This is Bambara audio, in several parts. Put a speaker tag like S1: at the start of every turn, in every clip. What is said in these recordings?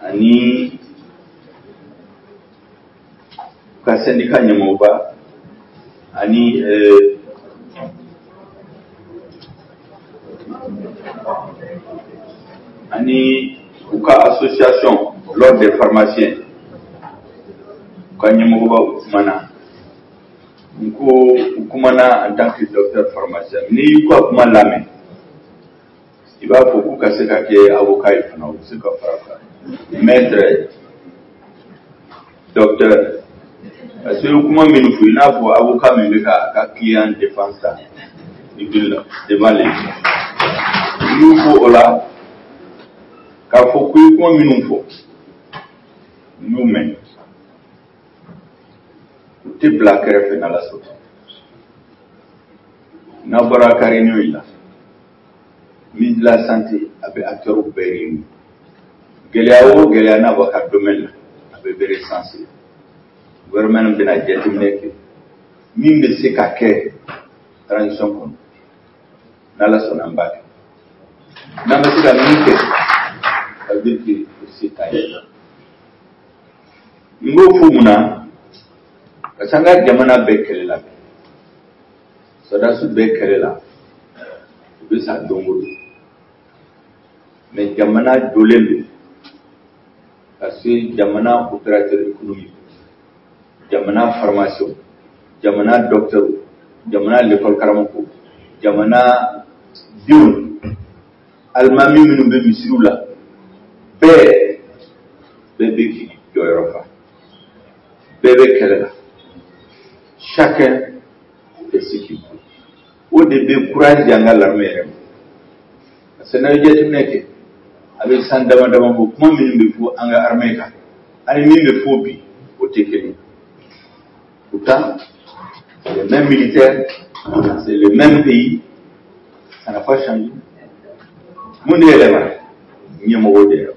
S1: ani u ka sɛndika ɲɛmɔgɔba ani ani u ka association l'ordre des pharmaciens u ka ɲɛmɔgɔba u kumana n ko u kumana en tant que docteur pharmacien n'i y'u ka kuma lamɛn i b'a fɔ k'u ka se ka kɛ avocat ye fana u bɛ se ka fara kan maître docteur parce que kuma minnu fɔ i n'a fɔ avocat min bɛ ka a ka client défense ta i bɛ la devant les n y'u fo o la k'a fɔ k'u ye kuma minnu fɔ n y'u mɛn u tɛ bila kɛrɛfɛ n'ala sɔnna n'a bɔra kari n'o ye la ministre de la santé a bɛ acteurs bɛɛ réuni gɛlɛya o gɛlɛya n'a b'a ka domaine na a bɛɛ bɛ recensé gouvernement bɛna jateminɛ kɛ min bɛ se ka kɛ transition kɔnɔ n'ala sɔnna an b'a kɛ n'an ma se ka min kɛ ça veut dire que o se t'an ye n b'o fɔ mun na parce que an ka jamana bɛ kɛlɛ la bi Sɔrɔdasiw bɛ kɛlɛ la u bɛ sa don o don mais jamana jɔlen don parce que jamana opérateur économique jamana pharmacien jamana docteur jamana l'école karamɔgɔ jamana denw alimami minnu bɛ misiriw la bɛɛ bɛɛ bɛ k'i jɔyɔrɔ fa bɛɛ bɛ kɛlɛ la chacun o de bɛ kuraji di an ka l'armée yɛrɛ ma parce que n'aw ye jateminɛ kɛ a bɛ san dama dama bɔ kuma minnu bɛ fɔ an ka armée kan ani min bɛ fɔ bi o tɛ kelen pourtant c'est le même militaire c'est le même pays ça n'a pas changé mun de yɛlɛma ɲɛmɔgɔ de yɛlɛma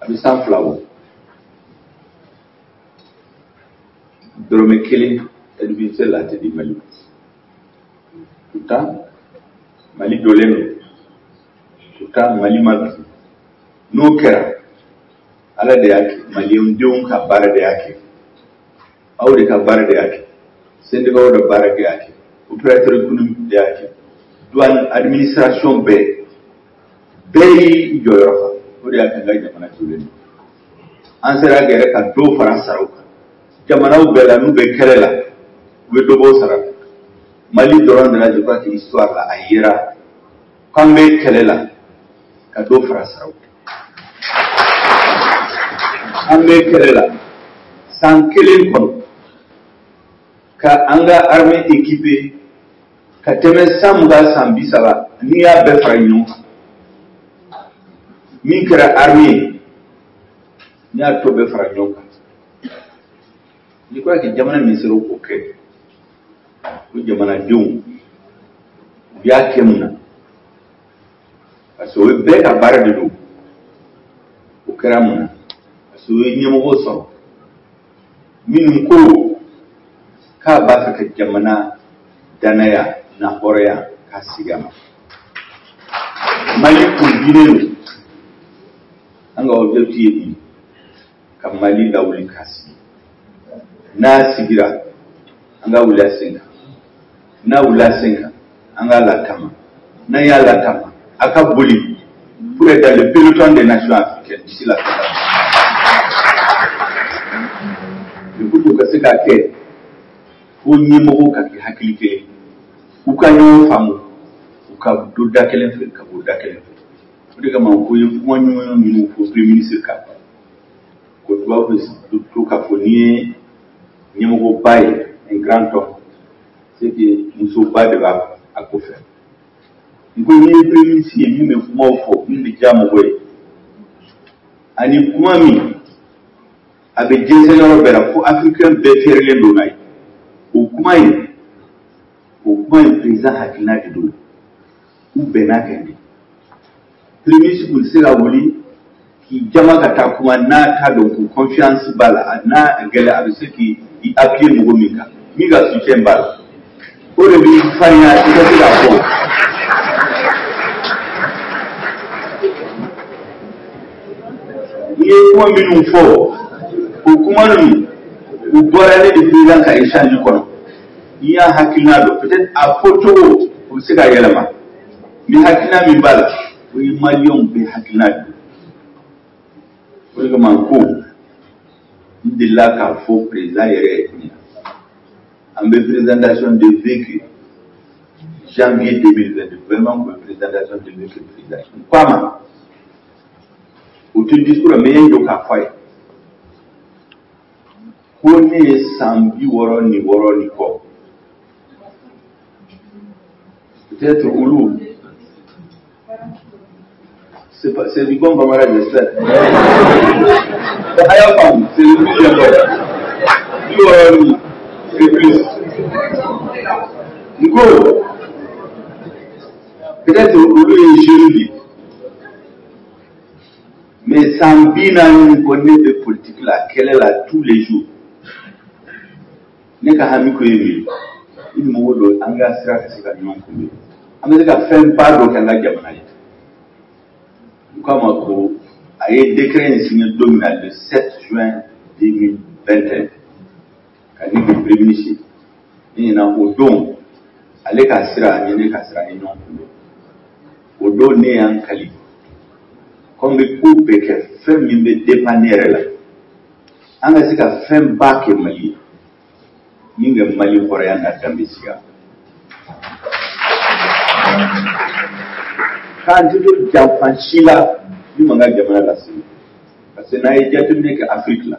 S1: a bɛ san fila bɔ dɔrɔmɛ kelen aide budgétaire la tɛ di mali ma pourtant mali jɔlen don pourtant mali ma bi n'o kɛra ala de y'a kɛ maliyendenw ka baara de y'a kɛ aw de ka baara de y'a kɛ sendikaw de baara de y'a kɛ opérateur économique de y'a kɛ douane administration bɛɛ bɛɛ y'i jɔyɔrɔ fa o de y'a kɛ an ka jamana jɔlen don an sera yɛrɛ ka dɔ fara saraw kan jamanaw bɛɛ la n'u bɛ kɛlɛ la u bɛ dɔ bɔ sara la mali dɔrɔn de la je crois que histoire la a yera k'an bɛ kɛlɛ la ka dɔ fara saraw kan an bɛ kɛlɛ la san kelen kɔnɔ ka an ka armée équiper ka tɛmɛ san mugan san bi saba n'i y'a bɛɛ fara ɲɔgɔn kan min kɛra arme ye n'i y'a tɔ bɛɛ fara ɲɔgɔn kan je crois que jamana min sera k'o kɛ o jamanadenw u y'a kɛ mun na parce que o ye bɛɛ ka baara de don o kɛra mun na parce que u ye ɲɛmɔgɔw sɔrɔ minnu ko k'a b'a fɛ ka jamana danaya n'a hɔrɔnya k'a segin a ma mali tun dalen don an ka objectif ye de ka mali lawuli k'a sigi n'a sigira an k'a wuli a sen kan n'a wulila a sen kan an k'a lataama n'an y'a lataama a ka boli pour être dans le peloton des nations africaines d'ici la fin de pour que o ka se ka kɛ fo ɲɛmɔgɔw ka kɛ hakili kelen u ka ɲɔgɔn faamu u ka don da kelen fɛ ka bɔ da kelen fɛ o de kama ko i ye kuma ɲuman minnu fɔ premier ministre kan ko tubabu bɛ to k'a fɔ n'i ye ɲɛmɔgɔba ye un grand homme c'est que musoba de b'a kɔfɛ n ko n'i ye premier ministre ye min bɛ kumaw fɔ min bɛ diya mɔgɔ ye ani kuma min a bɛ jɛnsɛn yɔrɔ bɛɛ la fo afirikɛn bɛɛ fiyɛrɛlen don n'a ye o kuma in o kuma in président hakilina de don u bɛnna a kan de premier ministre tɛ se ka wuli k'i jama ka taa kuma n'a t'a dɔn ko confiance b'a la n'a gɛlɛya a bɛ se k'i appuyer mɔgɔ min kan min ka soutien b'a la o de b'i farinya i ka se k'a fɔ ne ye kuma minnu fɔ o kuma ninnu u bɔra ne ni président ka échange kɔnɔ ne y'a hakilina dɔn peut-être a fɔ cogo o bɛ se ka yɛlɛma mais hakilina min b'a la o ye maliyɛnw bɛɛ hakilina de ye o de kama ko n delila k'a fɔ président yɛrɛ ye tuguni an bɛ présentation de vœux kɛ janvier 2022 vraiment ka présentation de vœux kɛ président n ko a ma o tɛ discours la mɛ n ye jɔ k'a fɔ a ye ko ne ye san bi wɔɔrɔ ni wɔɔrɔ ni kɔ peut-être olu c'est pas c'est du bon bambara de sɛ a y'a faamu c'est le plus important bi wɔɔrɔ ni c'est plus n ko peut-être olu ye jeune de ye. mais san bi naani ni kɔ ne bɛ politiki la kɛlɛ la tous les jours ne ka hami ko ye min ye i ni mɔgɔ dɔ an ka sira ka se ka ɲɔgɔn kunbɛn an bɛ se ka fɛnba dɔ kɛ an ka jamana ye u k'a ma ko a ye décret in signé don min na le 7 juin 2021 ka ne kɛ premier ministre ne ɲɛna o don ale ka sira ani ne ka sira ye ɲɔgɔn kunbɛn o don ne ye n kali ko n bɛ ko bɛɛ kɛ fɛn min bɛ dépend ne yɛrɛ la an ka se ka fɛn ba kɛ mali ye min bɛ mali ka hɔrɔnya n'a danbe segin k'an tɛ don janfa si la min b'an ka jamana lasigi parce que n'a ye jateminɛ kɛ afiriki la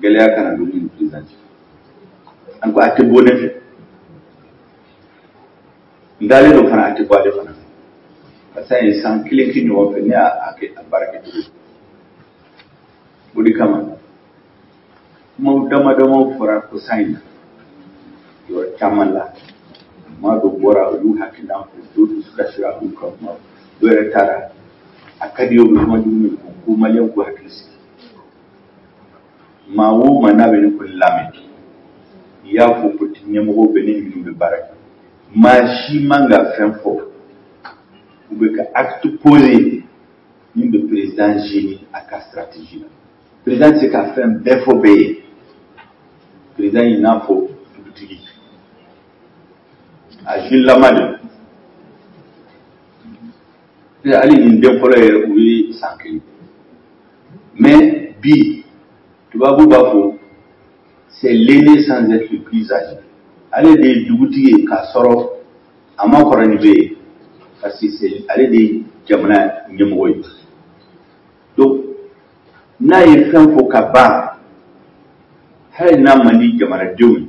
S1: gɛlɛya kana don ni président cɛ an ko a tɛ bɔ ne fɛ n dalen don fana a tɛ bɔ ale fana fɛ parce que an ye san kelen kɛ ɲɔgɔn fɛ ne y'a kɛ a baara kɛ cogo o de kama kumaw dama damaw fɔra kɔsa in na yɔrɔ caman la maa dɔw bɔra u y'u hakilina fɔ dɔw dusu kasira u y'u ka kuma dɔw yɛrɛ taara a ka di u ye u bɛ kuma jugu min fɔ ko maliyɛnw k'u hakili sigi maa o maa n'a bɛ ne ko lamɛn i y'a fɔ ko ɲɛmɔgɔw bɛɛ ni minnu bɛ baara kɛ maa si man ka fɛn fɔ ou bien ka acte posé min bɛ président gêner a ka stratégie la président tɛ se ka fɛn bɛɛ fɔ bɛɛ ye président i n'a fɔ dugutigi a jilama de hali ni den fɔlɔ yɛrɛ o ye san kelen mais bi tubabu b'a fɔ c'est l'aîné sans être le plus âgé ale de ye dugutigi ye k'a sɔrɔ a ma kɔrɔ ni bɛɛ ye parce que ale de ye jamana ɲɛmɔgɔ ye donc n'a ye fɛn fɔ ka ban hali n'a man di jamanadenw ye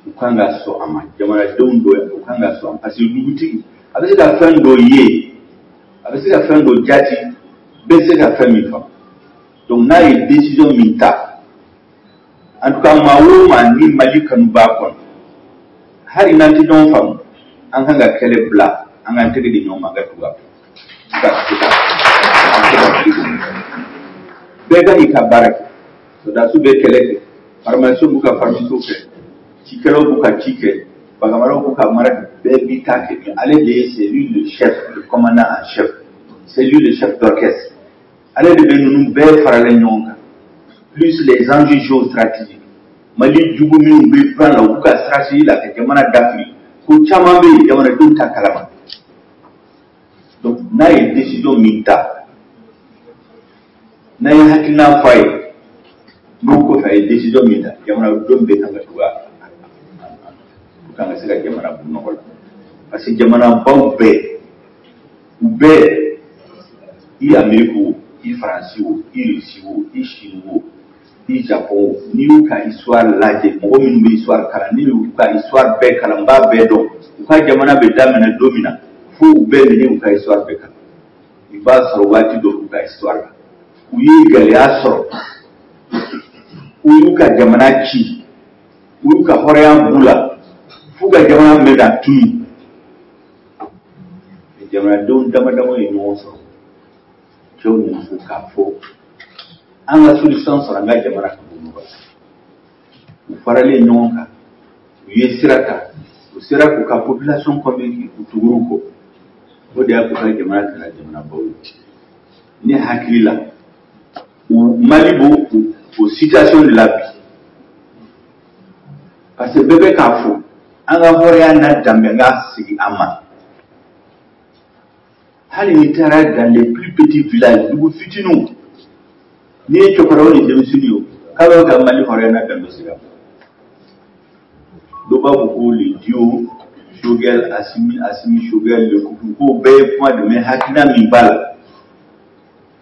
S1: u kan ka sɔn a ma jamanadenw don u kan ka sɔn parce que dugutigi a bɛ se ka fɛn dɔ ye a bɛ se ka fɛn dɔ jate bɛɛ tɛ se ka fɛn min faamu donc n'a ye décision min ta en tout cas maa o maa ni mali kanu b'a kɔnɔ hali n'an tɛ ɲɔgɔn faamu an kan ka kɛlɛ bila an k'an tɛgɛ di ɲɔgɔn ma an ka tugu a fɛ bɛɛ ka i ka baara kɛ sɔrɔdasiw bɛ kɛlɛ kɛ farimasiw b'u ka farimasiw kɛ cikɛlaw b'u ka ci kɛ baganmaraw b'u ka mara kɛ bɛɛ b'i ta kɛ mais ale de ye c'est lui le chef le commandant en chef c'est lui le chef d'orchestre ale de bɛ ninnu bɛɛ faralen ɲɔgɔn kan plus les enjeux géostratégiques mali jugu minnu bɛ plan la u b'u ka stratégie la ka jamana dafiri ko caman bɛ yen jamanadenw t'a kalama donc n'a ye décision min ta n'a ye hakilina fɔ a ye n'o kɔfɛ a ye décision min ta jamanadenw bɛɛ kan ka tugu a pour k'an ka se ka jamana bɔ nɔgɔ la parce que jamanabaw bɛɛ u bɛɛ i ameriki wo i faransi wo i rusi wo i sini wo i japon n'i y'u ka histoire lajɛ mɔgɔ minnu bɛ histoire kalan n'i y'u ka histoire bɛɛ kalan n b'a bɛɛ dɔn u ka jamana bɛ daminɛ don min na fo u bɛ min n'i y'u ka histoire bɛɛ kalan i b'a sɔrɔ waati dɔ u ka histoire la u ye gɛlɛya sɔrɔ u y'u ka jamana ci u y'u ka hɔrɔnya b'u la f'u ka jamana bɛ ka tunun jamanadenw dama dama ye ɲɔgɔn sɔrɔ cɛw ni musow k'a fɔ an ka solution sɔrɔ an ka jamana ka bɔ nɔgɔ la u faralen ɲɔgɔn kan u ye sira ta u sera k'u ka population convaincu u tugur'u kɔ o de y'a k'u ka jamana kɛra jamanabaw ye ne hakili la u mali b'o situation de la bi parce que bɛɛ bɛ k'a fɔ an ka hɔrɔnya n'an danbe ka segin an ma hali n'i taara dans les plus petits villages dugu fitininw n'i ye cɛkɔrɔba ni denmisɛnnin ye o k'a bɛ ka mali hɔrɔnya n'a danbe sira dɔ b'a fɔ ko le duo Choguel, Assimi, Assimi Choguel, le couple, ko bɛɛ ye kuma de mais hakilina min b'a la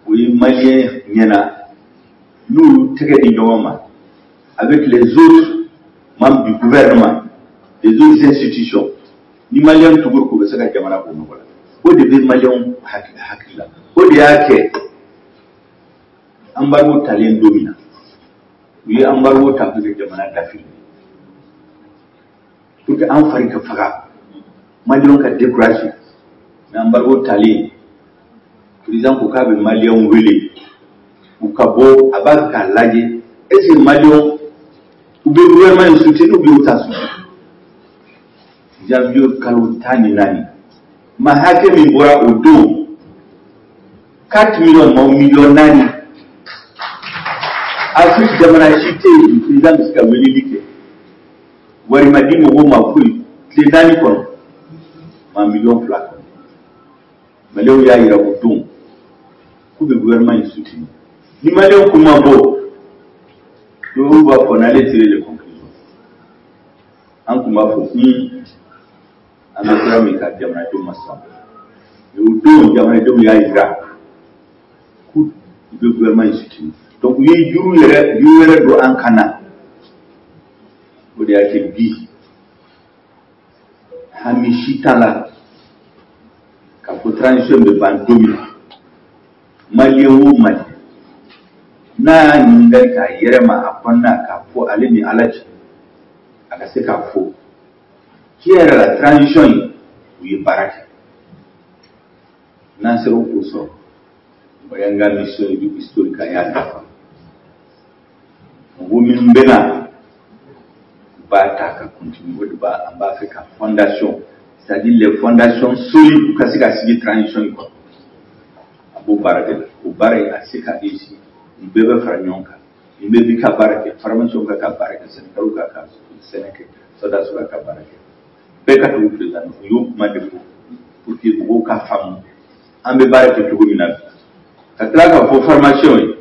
S1: o ye maliyɛnw ɲɛ na n'olu tɛgɛ di ɲɔgɔn ma avec les autres membres du gouvernement les autres institutions ni maliyɛnw tugur'u kɔ u bɛ se ka jamana bɔ nɔgɔ la o de bɛ maliyɛnw hakili la o de y'a kɛ anbarigo talen don min na u ye anbarigo ta k'u ka jamana dafiri pour que an fari ka faga maliyɛnw ka découragé mais anbarigo talen président ko k'a bɛ maliyɛnw wele u ka bɔ a b'a k'a lajɛ est ce que maliyɛnw u bɛ gouvernement in soutenu ou bien u t'a soutenu janvier kalo tan ni naani maa hakɛ min bɔra o don 4 miliyɔn maa miliyɔn naani afiriki jamana si tɛ yen président bɛ se ka weleli kɛ wari ma di mɔgɔw ma foyi tile naani kɔnɔ maa miliyɔn fila ka bɔ maliyɛnw y'a yira o don k'u bɛ gouvernement in soutenu ni maliyɛnw kun ma bɔ olu b'a fɔ on allait tirer les conclusions an tun b'a fɔ ko an bɛ sira min kan jamanadenw ma sɔn o don jamanadenw y'a jira ko u bɛ gouvernement in soutenu donc o ye juru yɛrɛ juru yɛrɛ don an kan na o de y'a kɛ bi hami si t'a la k'a fɔ transition bɛ ban don min na maliyɛn o maliyɛn n'a ye ɲininkali k'a yɛrɛ ma a kɔnɔna k'a fɔ ale ni ala cɛ a ka se k'a fɔ tiɲɛ yɛrɛ la transition in u ye baara kɛ n'an sera k'o sɔrɔ o y'an ka mission historique an y'a dafa mɔgɔ min bɛ na u b'a ta ka continuer o de b'a an b'a fɛ ka fondation c'est à dire les fondations solides ka se ka sigi transition in kɔnɔ a b'o baara de la o baara in a se ka réussir ni bɛɛ bɛ fara ɲɔgɔn kan ni bɛɛ b'i ka baara kɛ pharmaciens k'u ka baara kɛ sɛnɛkɛlaw k'u ka sɛnɛ kɛ sɔrɔdasiw k'u ka baara kɛ bɛɛ ka tugu président o y'o kuma de fɔ pour que mɔgɔw ka faamu an bɛ baara kɛ cogo min na ka tila k'a fɔ pharmaciens ye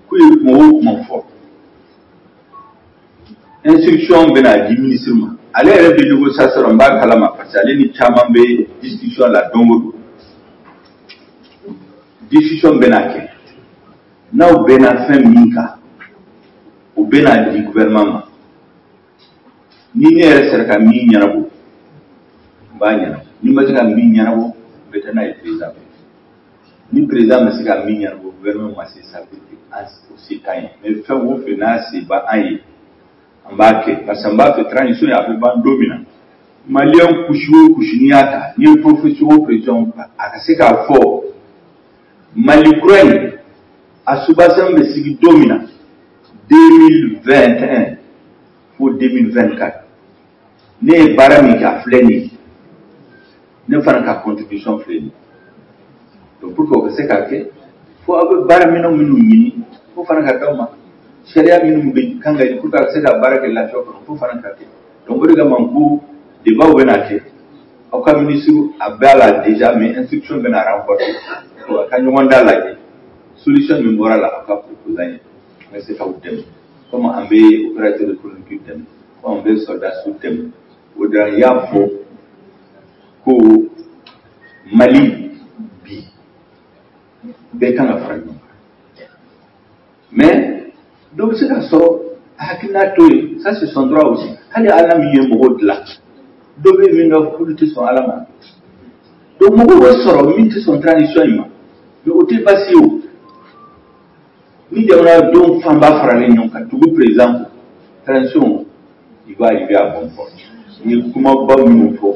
S1: k'u ye kuma o kuma fɔ instruction bɛna di minisiri ma ale yɛrɛ bɛ négociation rɔ n b'a kalama parce que ale ni caman bɛ discussion la don o don discussion bɛna kɛ n'aw bɛnna fɛn min kan o bɛna di gouvernement ma ni ne yɛrɛ sera ka min ɲɛnabɔ n b'a ɲɛnabɔ ni n ma se ka min ɲɛnabɔ n bɛ taa n'a ye président fɛ ni président ma se ka min ɲɛnabɔ gouvernement ma se ça veut dire an o se t'an ye mais fɛn o fɛn n'a se b'an ye an b'a kɛ parce que an b'a fɛ transition in a bɛ ban don min na maliyɛn couche o couche n'i y'a ta ni profession o profession a ka se k'a fɔ mali kura in a soubassement bɛ sigi don min na 2021 fo 2024 ne ye baara min kɛ a filɛ nin ye ne fana ka contribution filɛ nin ye donc pour que o ka se ka kɛ fo aw bɛ baara minɛnw minnu ɲini f'o fana ka d'aw ma sariya minnu ka kan ka ɲini pour que a ka se ka baara kɛ lafiya kɔnɔ f'o fana ka kɛ donc o de kama n ko débats bɛna kɛ aw ka minisiriw a b'a la déjà mais instruction bɛna renforcer aw ka ɲɔgɔn dalajɛ solution min bɔra a la aw k'a proposer an ye an bɛ se k'aw dɛmɛ komi an bɛ opérateur économique dɛmɛ komi an bɛ sɔrɔdasiw dɛmɛ o de la n y'a fɔ ko Mali bi bɛɛ kan ka fara ɲɔgɔn kan mais dɔ bɛ se ka sɔrɔ hakilina t'o ye ça c'est son droit aussi hali ala min ye mɔgɔ dilan dɔ bɛ yen min ka kulu tɛ sɔn ala ma donc mɔgɔ bɛ sɔrɔ min tɛ sɔn transition in ma mais o tɛ baasi ye o ni jamanadenw fanba faralen ɲɔgɔn kan tugu président kɔ transition il va arriver à bon port n ye kumaba minnu fɔ